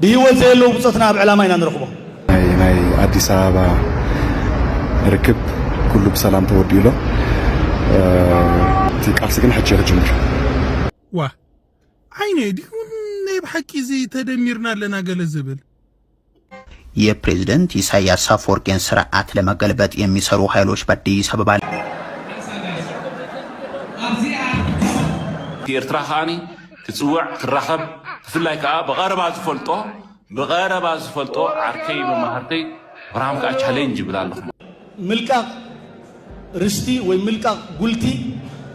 ብሂወት ዘየለዉ ብጾትና ኣብ ዕላማ ኢና ንረኽቦም። ናይ ኣዲስ ኣበባ ርክብ ኩሉ ብሰላም ተወዲኡ ኣሎ እቲ ቃልሲ ግን ሕጂ ክጅምር ዋ ዓይነይ ድዩ ናይ ብሓቂ እዚ ተደሚርና ኣለና ገለ ዝብል የፕሬዝደንት ኢሳያስ አፈወርቂን ስርዓት ለመገልበጥ የሚሰሩ ሀይሎች በአዲስ አበባ። እቲ ኤርትራ ከኣ ክጽውዕ ክራኸብ ብፍላይ ከኣ ብቐረባ ዝፈልጦ ብቐረባ ዝፈልጦ ዓርከይ መማህርተይ ኣብርሃም ከኣ ቻሌንጅ ይብል ኣለኹ። ምልቃቕ ርስቲ ወይ ምልቃቕ ጉልቲ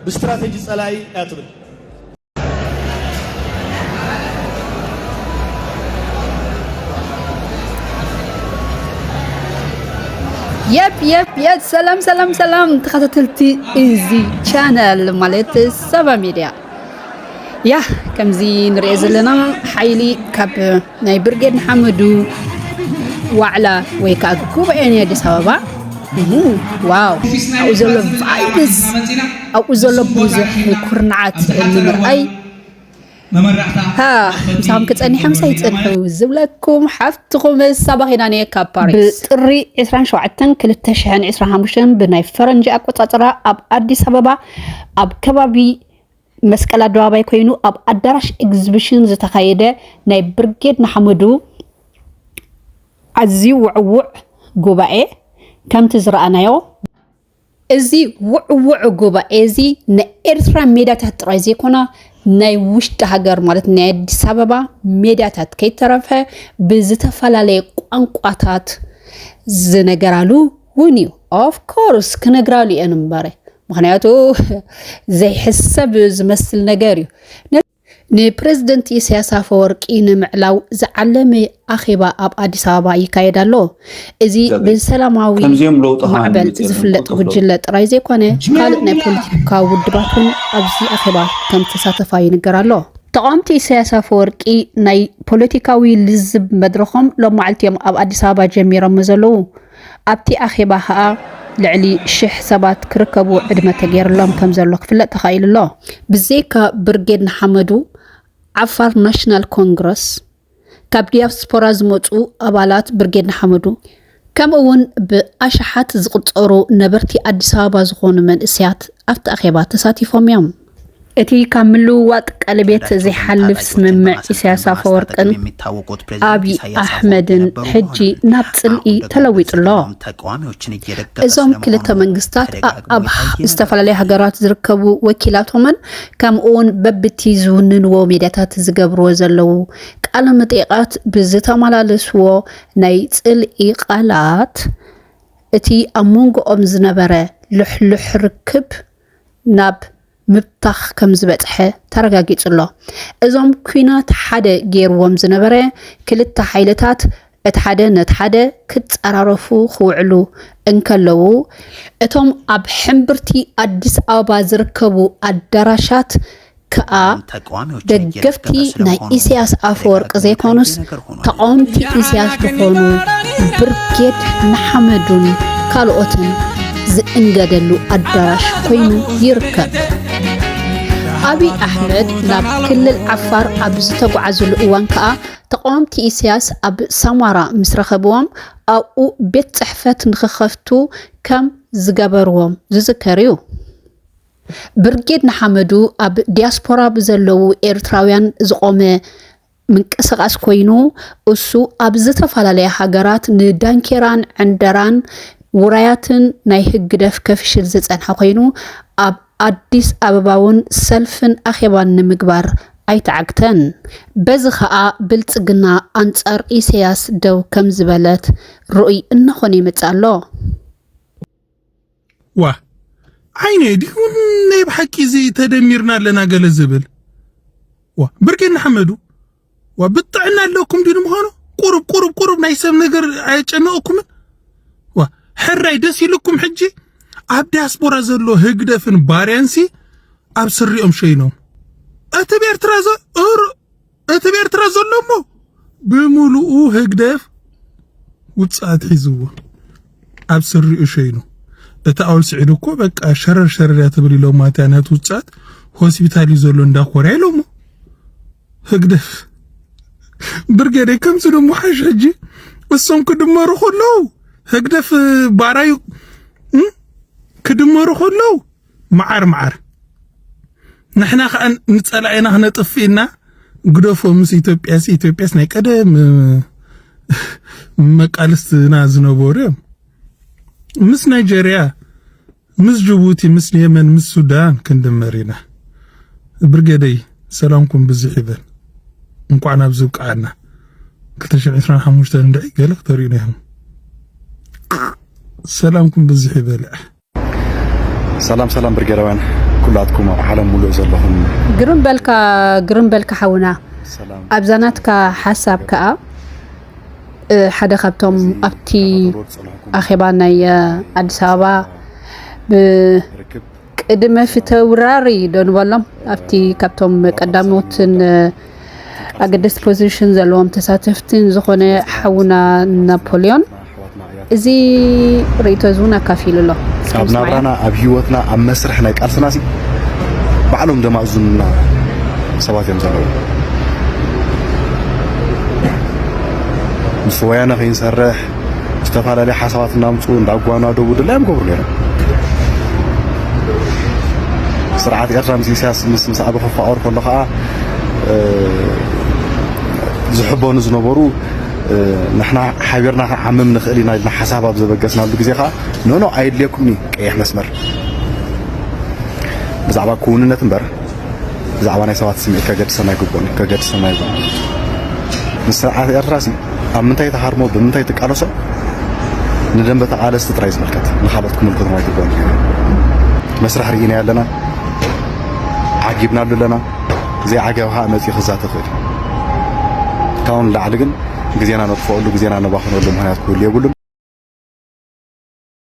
ብስትራተጂ ጸላኢ እያ ትብል። የብ የብ የብ ሰላም ሰላም ሰላም ተኸታተልቲ እዚ ቻነል ማለት ሰባ ሚድያ ያ ከምዚ ንሪኦ ዘለና ሓይሊ ካብ ናይ ብርጌድ ንሓመዱ ዋዕላ ወይ ከዓ ጉባኤ ናይ ኣዲስ ኣበባ ዋው ኣብኡ ዘሎ ቫይብስ ኣብኡ ዘሎ ብዙሕ ኩርናዓት ንምርኣይ ምሳኹም ክፀኒሐ ምሳይ ይፅንሑ ዝብለኩም ሓፍትኹም ሳባኺና ነየ ካብ ፓሪስ ብጥሪ 27 2025 ብናይ ፈረንጂ ኣቆፃፅራ ኣብ ኣዲስ ኣበባ ኣብ ከባቢ መስቀል ኣደባባይ ኮይኑ ኣብ ኣዳራሽ ኤግዚቢሽን ዝተኻየደ ናይ ብርጌድ ንሓመዱ ኣዝዩ ውዕውዕ ጉባኤ ከምቲ ዝረኣናዮ እዚ ውዕውዕ ጉባኤ እዚ ናይ ኤርትራ ሜዳታት ጥራይ ዘይኮና ናይ ውሽጢ ሃገር ማለት ናይ ኣዲስ ኣበባ ሜዳታት ከይተረፈ ብዝተፈላለየ ቋንቋታት ዝነገራሉ እውን እዩ ኦፍኮርስ ክነግራሉ እየን እምበረ ምክንያቱ ዘይሕሰብ ዝመስል ነገር እዩ ንፕረዚደንት ኢሳያስ ኣፈወርቂ ንምዕላው ዝዓለመ ኣኼባ ኣብ ኣዲስ ኣበባ ይካየድ ኣሎ። እዚ ብሰላማዊ ማዕበል ዝፍለጥ ጉጅለ ጥራይ ዘይኮነ ካልእ ናይ ፖለቲካ ውድባት እውን ኣብዚ ኣኼባ ከም ተሳተፋ ይንገር ኣሎ። ተቃወምቲ ኢሳያስ ኣፈወርቂ ናይ ፖለቲካዊ ልዝብ መድረኾም ሎም መዓልቲ እዮም ኣብ ኣዲስ ኣበባ ጀሚሮሞ ዘለዉ። ኣብቲ ኣኼባ ከኣ ልዕሊ ሽሕ ሰባት ክርከቡ ዕድመ ተገይርሎም ከምዘሎ ክፍለጥ ተኻኢሉ'ሎ። ብዘይካ ብርጌድ ንሓመዱ፣ ዓፋር ናሽናል ኮንግረስ፣ ካብ ዲያስፖራ ዝመጹ ኣባላት ብርጌድ ንሓመዱ፣ ከምኡ'ውን ብኣሽሓት ዝቑጸሩ ነበርቲ ኣዲስ ኣበባ ዝኾኑ መንእሰያት ኣብቲ ኣኼባ ተሳቲፎም'ዮም። እቲ ካብ ምልውዋጥ ቀለቤት ዘይሓልፍ ስምምዕ ኢሳያስ ኣፈወርቅን ኣብዪ ኣሕመድን ሕጂ ናብ ጽልኢ ተለዊጡ ኣሎ። እዞም ክልተ መንግስታት ኣብ ዝተፈላለያ ሃገራት ዝርከቡ ወኪላቶምን ከምኡውን በብቲ ዝውንንዎ ሜድያታት ዝገብርዎ ዘለዉ ቃለ መጠይቓት ብዝተመላለስዎ ናይ ጽልኢ ቃላት እቲ ኣብ መንጎኦም ዝነበረ ልሕሉሕ ርክብ ናብ ምብታኽ ከም ዝበጽሐ ተረጋጊጹ'ሎ። እዞም ኲናት ሓደ ገይርዎም ዝነበረ ክልተ ሓይልታት እቲ ሓደ ነቲ ሓደ ክጸራረፉ ክውዕሉ እንከለዉ፣ እቶም ኣብ ሕምብርቲ ኣዲስ ኣበባ ዝርከቡ ኣዳራሻት ከኣ ደገፍቲ ናይ ኢሰያስ ኣፈወርቂ ዘይኮኑስ ተቓወምቲ ኢሰያስ ዝኾኑ ብርጌድ ንሓመዱን ካልኦትን ዝእንገደሉ ኣዳራሽ ኮይኑ ይርከብ። ኣብዪ ኣሕመድ ናብ ክልል ዓፋር ኣብ ዝተጓዓዝሉ እዋን ከዓ ተቃወምቲ ኢሳያስ ኣብ ሳማራ ምስ ረኸብዎም ኣብኡ ቤት ፅሕፈት ንክኸፍቱ ከም ዝገበርዎም ዝዝከር እዩ። ብርጌድ ንሓመዱ ኣብ ዲያስፖራ ብዘለዉ ኤርትራውያን ዝቖመ ምንቅስቓስ ኮይኑ እሱ ኣብ ዝተፈላለያ ሃገራት ንዳንኬራን ዕንደራን ውራያትን ናይ ህግደፍ ከፍሽል ዝጸንሐ ኮይኑ ኣብ ኣዲስ ኣበባ እውን ሰልፍን ኣኼባን ንምግባር ኣይተዓግተን። በዚ ከኣ ብልጽግና ኣንጻር ኢሰያስ ደው ከምዝበለት ርኡይ እናኾነ ይመጽእ ኣሎ። ዋ ዓይነ ዲኹን ናይ ብሓቂ እዚ ተደሚርና ኣለና ገለ ዝብል ዋ ብርጌ ንሓመዱ ዋ ብጥዕና ኣለኩም ድዩ ንምዃኑ ቁሩብ ቁሩብ ቁሩብ ናይ ሰብ ነገር ኣየጨነቕኩምን ዋ ሕራይ ደስ ኢልኩም ሕጂ ኣብ ዲያስፖራ ዘሎ ህግደፍን ባርያንሲ ኣብ ስሪኦም ሸይኖም እቲ ብኤርትራ ዘ እቲ ብኤርትራ ዘሎ እሞ ብምሉኡ ህግደፍ ውጽኣት ሒዝዎ ኣብ ስሪኡ ሸይኑ እቲ ኣውል ስዒድ እኮ በቃ ሸረር ሸረር እያ ትብል ኢሎም ማለት ነቲ ውጽኣት ሆስፒታል እዩ ዘሎ እንዳ ኮርያ ኢሎሞ ህግደፍ ብርጌዴ ከምዚ ደሞ ሓሽ ሕጂ እሶም ክድመሩ ከለዉ ህግደፍ ባራዩ ክድመሩ ከለዉ መዓር መዓር ንሕና ከዓ ንፀላኢና ክነጥፍእና ግደፎ ምስ ኢትዮጵያስ ኢትዮጵያስ ናይ ቀደም መቃልስትና ዝነበሩ እዮም ምስ ናይጀርያ ምስ ጅቡቲ ምስ የመን ምስ ሱዳን ክንድመር ኢና ብርገደይ ሰላምኩም ብዝሕ ይበል እንኳዕ ናብ ዝብቃዓና 225 እንድዒ ገለ ክተርእዩና ኢኹም ሰላምኩም ብዝሕ ይበልዕ ሰላም ሰላም ብርጌዳውያን ኩላትኩም ኣብ ዓለም ሙሉእ ዘለኹም ግርም በልካ ግርም በልካ ሓውና ኣብዛ ናትካ ሓሳብ ከዓ ሓደ ካብቶም ኣብቲ ኣኼባ ናይ ኣዲስ ኣበባ ብቅድመ ፍተውራሪ ዶ ንበሎም ኣብቲ ካብቶም ቀዳሞትን ኣገደስቲ ፖዚሽን ዘለዎም ተሳተፍቲ ዝኾነ ሓውና ናፖሊዮን እዚ ርእቶ እዚ እውን ኣካፊሉ ኣሎ ኣብ ናብራና ኣብ ሂወትና ኣብ መስርሕ ናይ ቃልስና ሲ ባዕሎም ዘማእዙንና ሰባት እዮም ዘለዉ ምስ ወያነ ከይንሰርሕ ዝተፈላለየ ሓሳባት እናምፁ እንዳጓናደቡ ድላዮም ገብሩ ነይሮም ስርዓት ኤርትራ ምስ ኢሳያስ ምስ ምስ ኣበ ክፋቀር ከሎ ከዓ ዝሕበኑ ዝነበሩ ንሕና ሓቢርና ክንዓምም ንኽእል ኢና ኢልና ሓሳብ ኣብ ዘበገስናሉ ግዜ ከዓ ኖኖ ኣየድልየኩም እዩ ቀይሕ መስመር ብዛዕባ ክውንነት እምበር ብዛዕባ ናይ ሰባት ስምዒት ከገድሰና ኣይግብኦን እዩ ከገድሰና ይብሎ ንስርዓት ኤርትራ ሲ ኣብ ምንታይ ተሃርሞ ብምንታይ ትቃለሶ ንደንበ ተቓለስቲ ጥራይ ዝምልከት ንካልኦት ክምልከቶም ኣይግብኦን መስርሕ ርኢና ኣለና ዓጊብናሉ ኣለና። ዘይዓገብ ከኣ መጺኡ ክዛተ ይኽእል እዩ። ካብኡ ንላዕሊ ግን ግዜና ነጥፍኣሉ ግዜና ነባኽነሉ ምኽንያት ክህሉ የብሉን።